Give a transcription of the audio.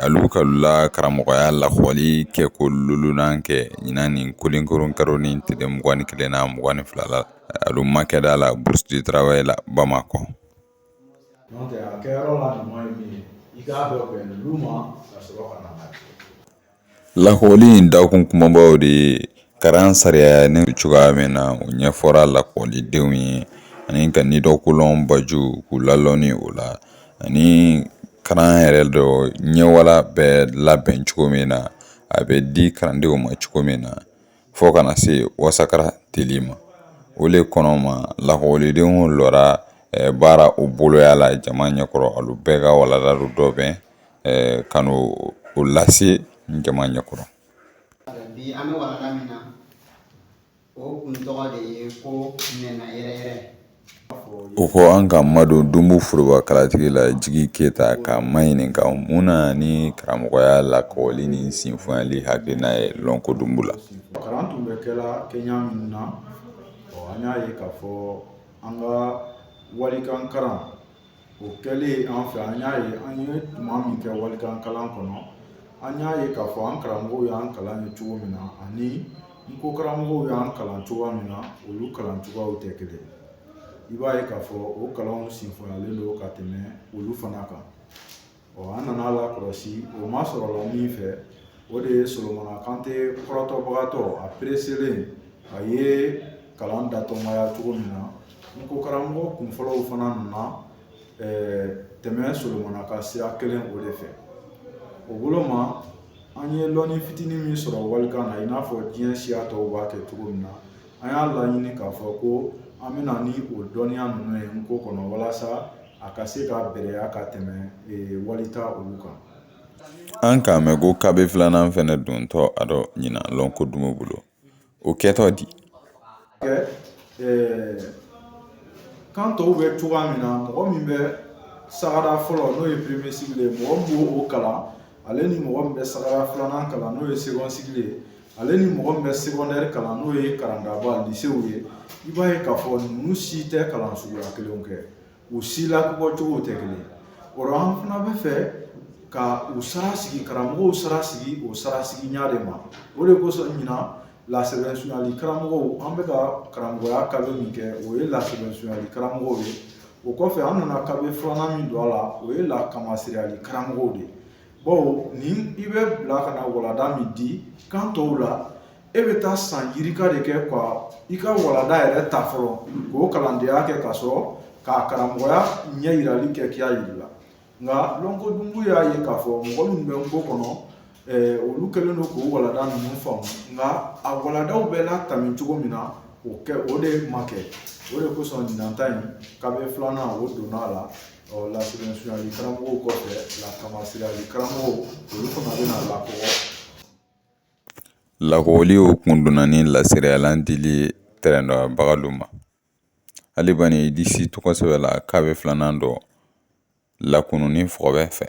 alu k'alu la karamɔgɔya lakɔli kɛ ko lolunan kɛ ɲinan nin kolinkoron karo ni tile mugan ni kelen na mugan ni fila la alu makɛda la Bourse du Travail la bamakɔ Lakɔli in dakun kumabaw de ye karan sariya ni cogoya min na u ɲɛfɔra lakɔlidenw ye ani ka nidɔkolɔn baju k'u lalɔni o la ani kalan yɛrɛ dɔ ɲɛwala bɛ labɛn cogo min na a bɛ di kalandenw ma cogo min na fo ka na se wasara teli ma o de kɔnɔ ma lakɔlidenw lɔra baara u boloya la jama ɲɛkɔrɔ alu bɛɛ ka walanda dɔbɛn ka n'o lase jama ɲɛkɔrɔ bi an bɛ walanda min na o kun tɔgɔ de ye ko nɛnɛ yɛrɛ o ko an ka madon dunbu foroba kalatigi la jigi keyita ka maɲininka mun na ni karamɔgɔya lakɔli ni sinfonyali hakilina ye lɔnko dunbu la kalan tun bɛ kɛla kɛɲa min na an y'a ye k'a fɔ an ka walikan kalan o kɛlen an fɛ an y'a ye an ye tuma min kɛ walikan kalan kɔnɔ an y'a ye k'a fɔ an karamɔgɔw y'an kalan ye cogo min na ani n ko karamɔgɔw y'an kalan cogoya min na olu kalan cogoyaw tɛ kelen i b'a ye k'a fɔ o kalanw sinfonyalen don ka tɛmɛ olu fana kan ɔ an nana a lakɔlɔsi o masɔrɔla min fɛ o de ye solomana kante kɔrɔtɔbagatɔ a pereselen a ye kalan datɔmaya cogo min na n ko karamɔgɔ kunfɔlɔw fana nana tɛmɛ solomana ka sira kelen o de fɛ o bolo ma an ye lɔnni fitinin min sɔrɔ walikan na i n'a fɔ diɲɛ siya tɔw b'a kɛ cogo min na an y'a laɲini k'a fɔ ko an bɛ na ni o dɔnniya ninnu ye n ko kɔnɔ walasa a ka se ka bɛrɛya ka tɛmɛ walita olu kan an k'a mɛn ko kabe filanan fɛnɛ dontɔ a dɔ ɲina lɔnko dunbu bolo o kɛtɔ di kan tɔw bɛ cogoya min na mɔgɔ min bɛ sagada fɔlɔ n'o ye premier cycle ye mɔgɔ min b'o kalan ale ni mɔgɔ min bɛ sagada filanan kalan n'o ye second cycle ye ale ni mɔgɔ min bɛ secondaire kalan n'o ye karandaba lisew ye i b'a ye k'a fɔ ninnu si tɛ kalan suguya kelenw kɛ u si lakɔgɔcogow tɛ kelen o la an fana bɛ fɛ ka u sara sigi karamɔgɔw sara sigi o sara sigi ɲa de ma o de kosɔn ɲina lasɛbɛsunyali karamɔgɔw an bɛ ka karamɔgɔya kabe min kɛ o ye lasɛbɛsunyali karamɔgɔw ye o kɔfɛ an nana kabe filanan min don a la o ye lakamasereyali karamɔgɔw de ye bawo ni i bɛ bila ka na walanda min di kan tɔw la e bɛ taa san yirika de kɛ ka i ka walanda yɛrɛ ta fɔlɔ k'o kalandenya kɛ ka sɔrɔ k'a karamɔgɔya ɲɛyirali kɛ k'i y'a yir'i la nka lɔnko dunbu y'a ye k'a fɔ mɔgɔ minnu bɛ nko kɔnɔ olu kɛlen don k'o walanda ninnu faamu nka a walandaw bɛɛ latami cogo min na o de ma kɛ o de kosɔn ɲinan ta in kabɛ filanan o donna a la ɔ lasɛbɛsunyali karamɔgɔw kɔfɛ lakanmasereyali karamɔgɔw olu fana bɛna lakɔgɔ lakɔgɔli o kun donna ni laseriyalan dili ye tɛrɛndɔbagalu ma hali bani i disi tɔgɔ sɛbɛ la kabɛ filanan dɔ lakununni fɔkɔbɛ fɛ